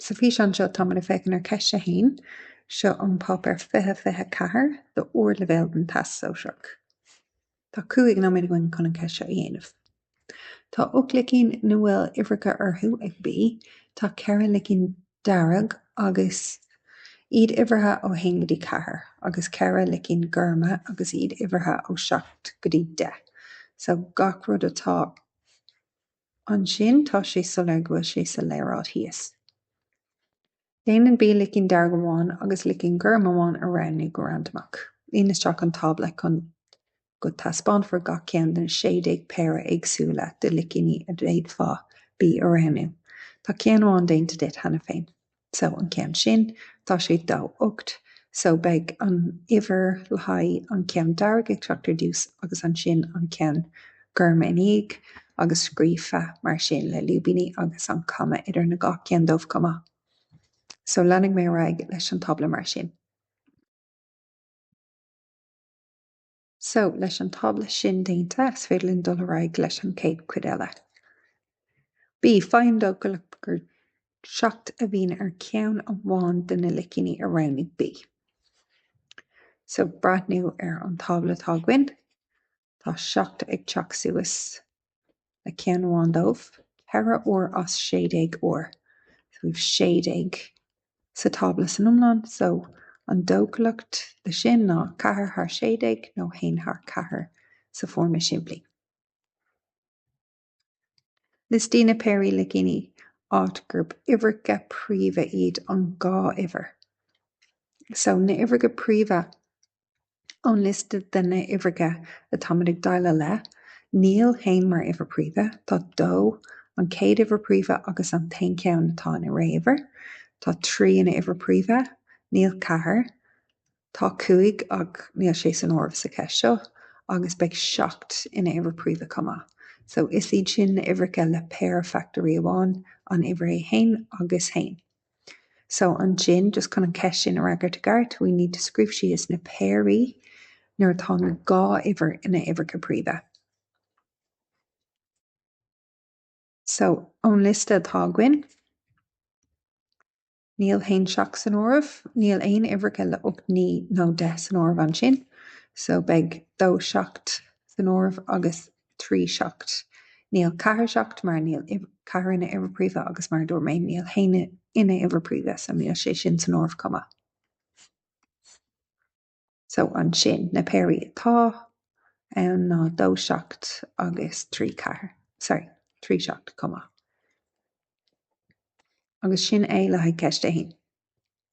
Sa físeán seo táimid ag féachaint ar Cheist 1. Seo an páipéar 2024 do Ardleibhéal den Teastas Sóisearach. Tá cúig nóiméad againn chun an cheist seo a dhéanamh. Tá ocht licín ina bhfuil uimhreacha orthu ag B, tá ceithre licín dearg agus iad uimhrithe ó haon go dtí ceathair, agus ceithre licín gorma agus iad uimhrithe ó seacht go dtí deich. So gach rud atá. Ansin tá sé soiléir go bhfuil sé sa léaráid thíos. Déanann B licín dearg amháin agus licín gorm amháin a roghnú go randamach. Líon isteach an tábla chun go taispeánfar gach ceann den 16 péire éagsúla de licíní a d'fhéadfá B a roghnú. Tá ceann amháin déanta duit cheana féin. so an ceann sin, tá sé dó ocht so beidh an uimhir le haghaidh an ceann dearg ag teacht ar dtús agus ansin an ceann gorm ina dhiaidh agus scríofa mar sin le lúibíní agus an comma idir na gach ceann díobh chomh maith. So leanfaidh mé ar aghaidh leis an tábla mar sin. So, leis an tábla sin déanta, is féidir linn dul ar aghaidh leis an chéad chuid eile. B, Faigh an dóchúlacht gur 7 a bhíonn ar cheann amháin de na licíní a roghnaigh B. So, breathnú ar an tábla atá againn, tá 7 ag teacht suas. le ceann amháin díobh, ceithre uair as sé déag uair. So we've sé déag sa tábla san iomlán, so an dóchúlacht le sin ná ceathair thar sé déag nó haon thar ceathair sa foirm is simplí. Liostaigh na péirí licíní áit gurb uimhreacha príomha iad an dhá uimhir. So na uimhreacha príomha Ón liosta de na uimhreacha atá muid ag déileáil le, níl haon mar uimhir príomha, tá dó, an chéad uimhir príomha agus an t-aon cheann atá ina ré-uimhir, tá trí ina uimhir príomha, níl ceathair, tá cúig ach níl sé san áireamh sa cheist seo, agus beidh seacht ina uimhir príomha chomh maith. So is iad sin na uimhreacha le péire fachtóirí amháin, an uimhir é fhéin agus haon. So ansin, just chun an ceist sin a fhreagairt i gceart, we need to scríobh síos na péirí nuair atá na dhá uimhir ina uimhreacha príomha. So ón liosta atá againn, níl haon seacht san áireamh, níl aon uimhreacha le 8 9 nó 10 san áireamh ansin, so beidh dó seacht san áireamh agus trí seacht Níl ceathair seacht mar níl ceathair ina uimhir phríomha agus mar a dúirt mé níl a haon ina uimhir phríomha so níl sé sin san áireamh chomh maith. So ansin na péirí atá ann ná dó seacht agus trí ceathair sorry trí seacht chomh maith. Agus sin é le haghaidh ceist 1.